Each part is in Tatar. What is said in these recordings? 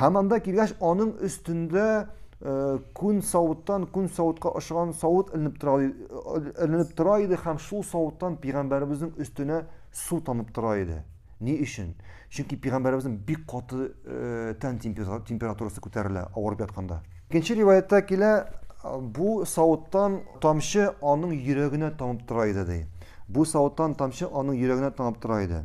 Һәм анда килгәч, аның өстендә э, күн савыттан күн савытка ошаган савыт эленеп тора, эленеп тора иде һәм шул савыттан пигамбәребезнең өстенә су тамып тора иде. Ни өчен? Чөнки пигамбәребезнең бик каты э, тән температурасы күтәрелә авырып ятканда. Икенче риваятта килә, бу савыттан тамчы аның йөрәгенә тамып тора иде ди. Бу савыттан тамчы аның йөрәгенә тамып тора иде.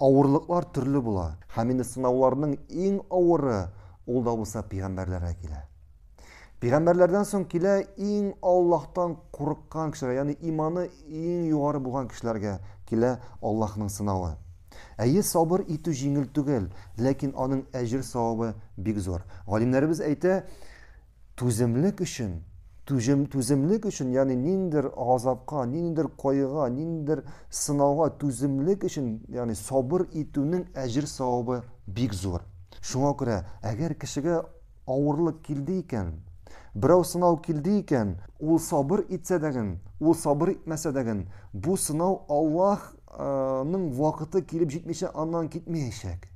Авырлыклар төрле була. Һәм инде сынауларның иң авыры, ул да булса пигамбәрләргә килә. Пигамбәрләрдән соң килә иң Аллаһтан курыккан кешеләр, ягъни иманы иң югары булган кешеләргә килә Аллаһның сынавы. Әйе, сабыр итү җиңел түгел, ләкин аның әҗер-савабы бик зур. Галимнәребез әйтә, Түземлек өчен, түҗем, түземлек өчен, ягъни ниндидер газапка, ниндидер кайгыга, ниндидер сынауга түземлек өчен, ягъни сабыр итүнең әҗер савабы бик зур. Шуңа күрә, әгәр кешегә авырлык килде икән, берәү сынау килде икән, ул сабыр итсә дәген, ул сабыр итмәсә дәген, бу сынау Аллаһ, ның вакыты килеп җитмичә аннан китмәячәк.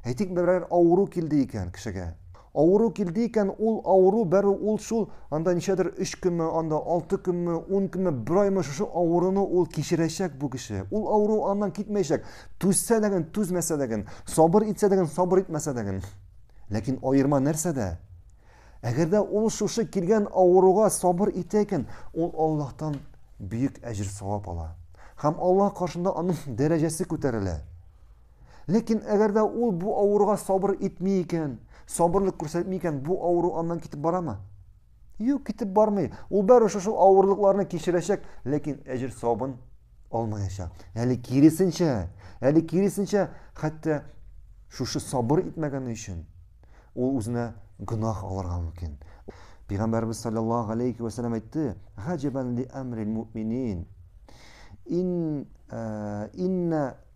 Әйтик, берәр авыру килде икән кешегә. Авыру килде икән, ул авыру бәрү ул шул анда ничәдер 3 көнме, анда 6 көнме, 10 көнме, бер аймы шушы авыруны ул кичерәчәк бу кеше. Ул авыру аннан китмәячәк. Түзсә дәген, түзмәсә дәген, сабыр итсә дәген, сабыр итмәсә дәген. Ләкин аерма нәрсәдә? Әгәр дә ул шушы килгән авыруга сабыр итә икән, ул Аллаһтан бөек әҗер савап ала. Һәм Аллаһ каршында аның дәрәҗәсе күтәрелә. Ләкин әгәр дә ул бу авыруга сабыр итми икән, сабырлык күрсәтми икән, бу авыру аннан китеп барамы? Юк, китеп бармый. Ул бары шушы авырлыкларны кичерәчәк, ләкин әҗер савабын алмаячак. Әле киресенчә, әле киресенчә, хәтта шушы сабыр итмәгәне өчен ул үзенә гөнаһ алырга мөмкин. Пәйгамбәрбез саллаллаһу алейхи ва саллям әйтте: "Хаҗабан ли амрил муъминин". Ин э, инна